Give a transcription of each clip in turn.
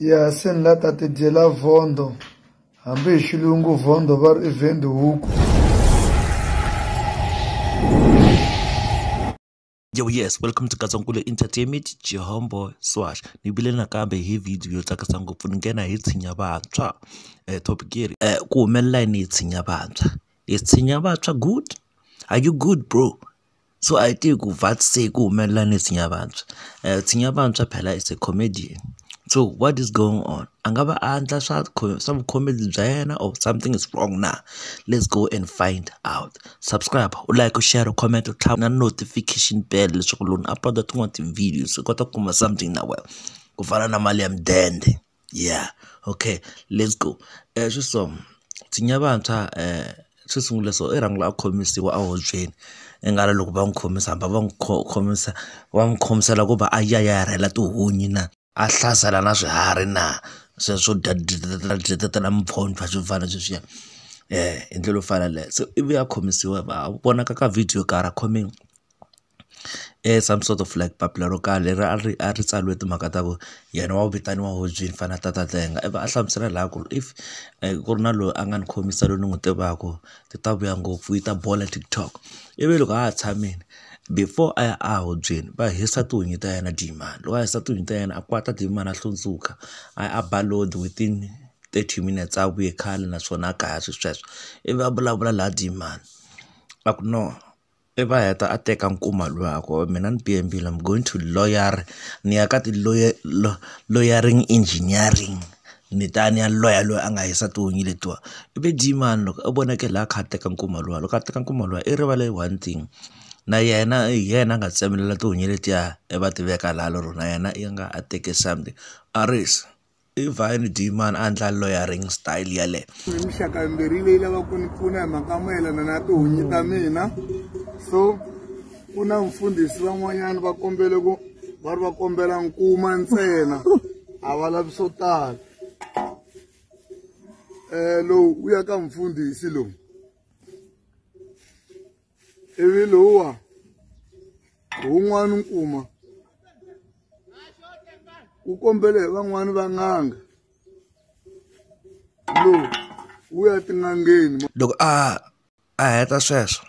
ya se ni la ta ti dyela vhondo hambi hi xilungu vhondo va ri i vendi huku Yo yes, welcome to Gazankulu Entertainment, Jehombo Swash. Ni vile nakambe hi video yo tsakisa ngopfu ni nghena hi tshinya vantshwa. Eh topic leri eh ku humelela yini hi tshinya vantshwa? Hi tshinya vantshwa good? Are you good bro? So a hi tivi ku what se ku humelela ni tshinya vantshwa tshinya vantshwa phela is a comedian so what is going on a nga va a endla swa swa vu comedy bya yena or something is wrong na let's go and find out subscribe u like u share u comment u tlhava na notification bell leswaku loko ni upload tin'wana ti-videos u kota ku kuma something na wena ku fana na mali ya mudende. Yeah okay let's go xo so nsinya ya vantshwa xo sungula so i rhanga a khomisiwa a hubyeni i nga ri loko va n'wi khomisa hamba va n'wi khomisa va n'wi khomisela ku va a ya ya ya rhwala tihunyi na a hlasela na swiharhi na sweswo swo dya mimpfhumpfha swo fana na sweswiya hi ndlela yo fana na yaleyo se ivi a khomisiwa va vonaka ka video karhi a khomiwa. some sort of like papila ro karhi leri a ri a ri tsariwe timhaka ta ku yena wa ku vitaniwa hobyi ni fanele a tata tlenga ivi a hlamusela laha ku ri if ku ri na loyi a nga ni khomisa loyi ni n'wi tivaka ti ta vuya ngopfu yi ta bola TikTok ivi loko a ha tshamile before a ya a hubyeni va hisa tihunyi ta yena demand loko a hisa tihunyi ta yena a kwata demand a hlundzuka a ya a ba lord within thirty minutes a vuye khale naswona a ka ha ri sweswo ivi a vulavula laha demand a ku no. I va heta a teka nkuma luya a ku mina ni B_N_B la mi going to lawyer ni ya ka ti lawyer lawyering engineering ni ta ni ya loya loyi a nga hisa tihunyi letiwani i ve dyi mani loko a vonaka la a kha a teka nkuma luwa loko a teka nkuma luwa i rivale one thing na yena hi yena a nga tsemelela tihunyi letiya i va tiveka laha lero na yena i nga a teke something a ri se. i vine dman a ndla loyering style yaleyo mixaka yimbirhi leyi lava ku ni pfuna hi mhaka mayelana na tihunyi ta mina so ku na mfundhisi van'wanyana va kombele ku va ri va kombela nkuma ntsena a va lavi swo tala um lowu u ya ka mfundhisi lowu ivi lowuwa wun'wana nkuma wu kombele hi van'wani va n'anga lowu wu ya tin'angeni loko a a heta sweswo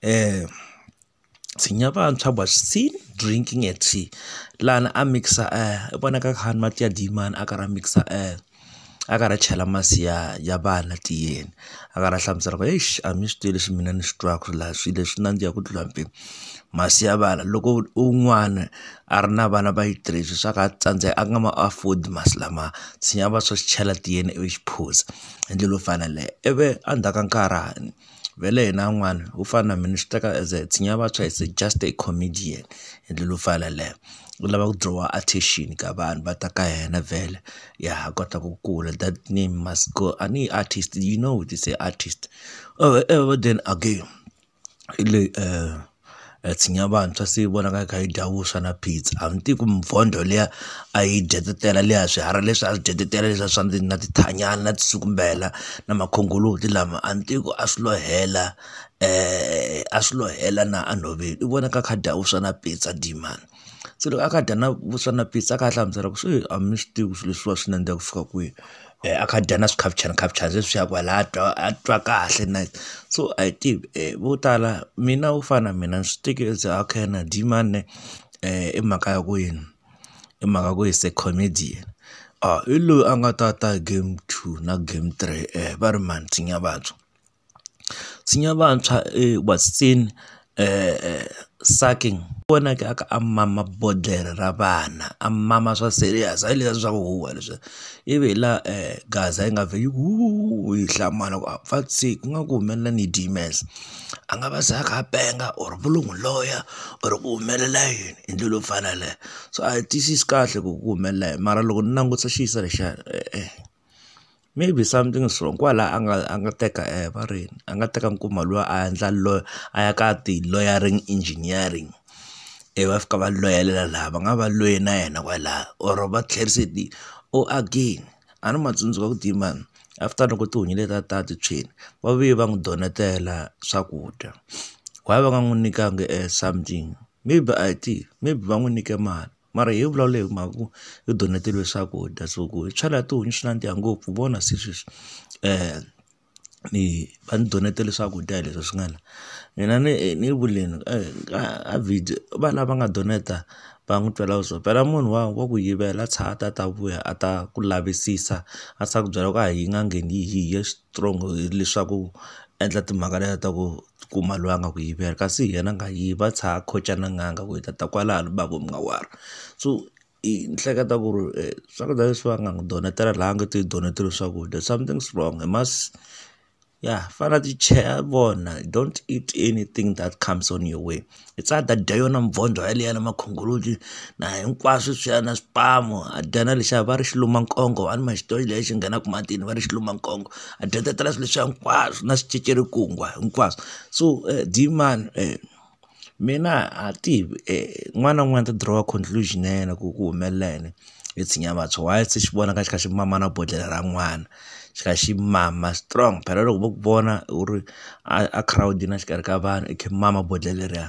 um tshinya vantshwa bya sin drinking a tea lana a mixa um i vonaka khani mati ya dimani a karhi a mixa um a karhi a chela masi ya ya vana tiyeni a karhi a hlamusela ku eish a mi swi tivi leswi mina ni swi twaka la swilo leswi nandziha ku tlula mpimo masi ya vana loko u n'wana a ri na vana va yi three swa ku a tsandzeka a nga ma afford masi lama tshinya va swa swi chela tiyeni ivi xi phuza hi ndlela yo fana na yaleyo ivi endzhaku ka nkarhi . vhele hina van'wana ho fana na mina swi teka as a tshinya vantshwa as a just a comedian hi ndlela yo fana na yaleyo u lava ku draw attention ka vanhu va ta ka yena vhele ya ha kota ku kula that name must go a ni artist you know this artist ever then again hi leyi . ya tshinya vantshwa se yi vonaka yi kha yi dya vuswa na phitsa a mi tivi ku mintlhontlho liya a yi dyetetela liya swiharhi leswi a swi dyetetela leswiya swa na tithanyani na tiswitumbela na makhongolozi lama a mi tivi ku a swi lo hela a swi lo hela na enhoveni i vona a kha a dya vuswa na phitsa dee mhani. se loko a kha a dya na vuswa na pitsa a kha a hlamusela ku se a mi swi tivi ku swilo leswiwa swi nandziha ku fika kwihi a kha a dya na swikhavichanakhavavichana sweswiya kwala a twa a twa kahle na yena so a hi tivi vo tala mina wo fana na mina ni swi teke as a okay na dyi mani ne i mhaka ya ku yini i mhaka ya ku he's a comedian a hi loyi a nga ta ta game two na game three va ri mhani nsinya vabya. tsenya vantshwa sacking vonaka a kha a mama bodlhela ra vana a mama swa serious hayi leswiya swa ku huhwa leswiya ivi hi laha gaza yi nga vhela yi ku huuhuu yi hlamala ku pfa tshiki ku nga ku humelela ni dye mesa a nga va se a kha a penga or va lo n'wi loya or ku humelela yini hi ndlela yo fana na yeleyo so a hi tiyisisi kahle ku ku humelela yini mara loko ni langutisa xiyisana lexiya e-e. Maybe something is wrong kwala a nga a nga teka va ri yini a nga teka nkuma luwa a endla loyi a ya ka ti-loyaring engineering ivi va fika va loyelela laha va nga va loyi na yena kwalaya or va tlherisa hi or again a ni ma tsundzuka ku dima after loko tihomu letiya ta ti tshwile va vuye va n'wi donetela swakudya why va nga n'wi nyikanga something maybe I think maybe va n'wi nyike mali. mara hi vulavula hi mhaka ku hi doneteriwe swakudya so ku hi chela tihomu swi nandziha ngopfu hi vona se sweswi ni va ni donetela swakudya hi leswi swi nga la mina ni ni vuleni a video va lava nga donate va n'wi twela vuswikoti phela munhu wa wa ku yivela a tshaha a ta a ta vuya a ta ku lavisisa a swa ku byela ku a hi n'angeni hi ye strong leswaku endla timhaka letiya ta ku. kuma loyi a nga ku yivela kasi yena a nga yivi a tshaha a khoca na n'anga ku yi ta ta kwalano va ku munga wani so i hleketa ku ri swakudya leswiwa nga n'wi donetela la a nga te hi donetele swakudya something is wrong he must ya fane a ti cheha a vona don't eat anything that comes on your way. hi tsaka hi ta dya yona mvondzo yaliya na makhongolozi na hinkwaswo sweswiya na swipamu ha dya na lexiya va ri xi luma nkongo a ni ma xi tivi lexi nghenaka matini va ri xi luma nkongo ha dya tatala swilo leswiya hinkwaswo na swicecerekungwa hinkwaswo so diyimani mina ha tivi un'wana na un'wana u ta dirowa conclusion ya yena ku ku humelela yini hi tshinya vantshwa why se xi vona ka xi kha xi mama na bodlhela ra n'wana. xi kha xi mama strong phela loko vo ku vona u ri a a girawundini a xikarhi ka vanhu i kha i mama bodlhela leriya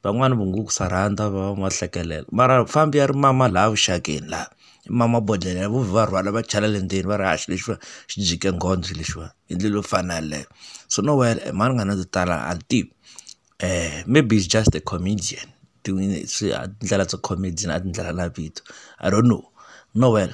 van'wani va ngo ku swa rhandza va va va hlekelela mara fambi ya ri mama laha vuxakeni laha i mama bodlhela vo vhe va rhwala va chela le ndzeni va ri hayi xilo lexiwa xi jike nghozi lexiwa hi ndlela yo fana yaleyo so no well a mhani nga na to tala a ni tivi maybe is just a comedian tin'wani swi a tindlela to comedian a tindlela na vito I don't know no well.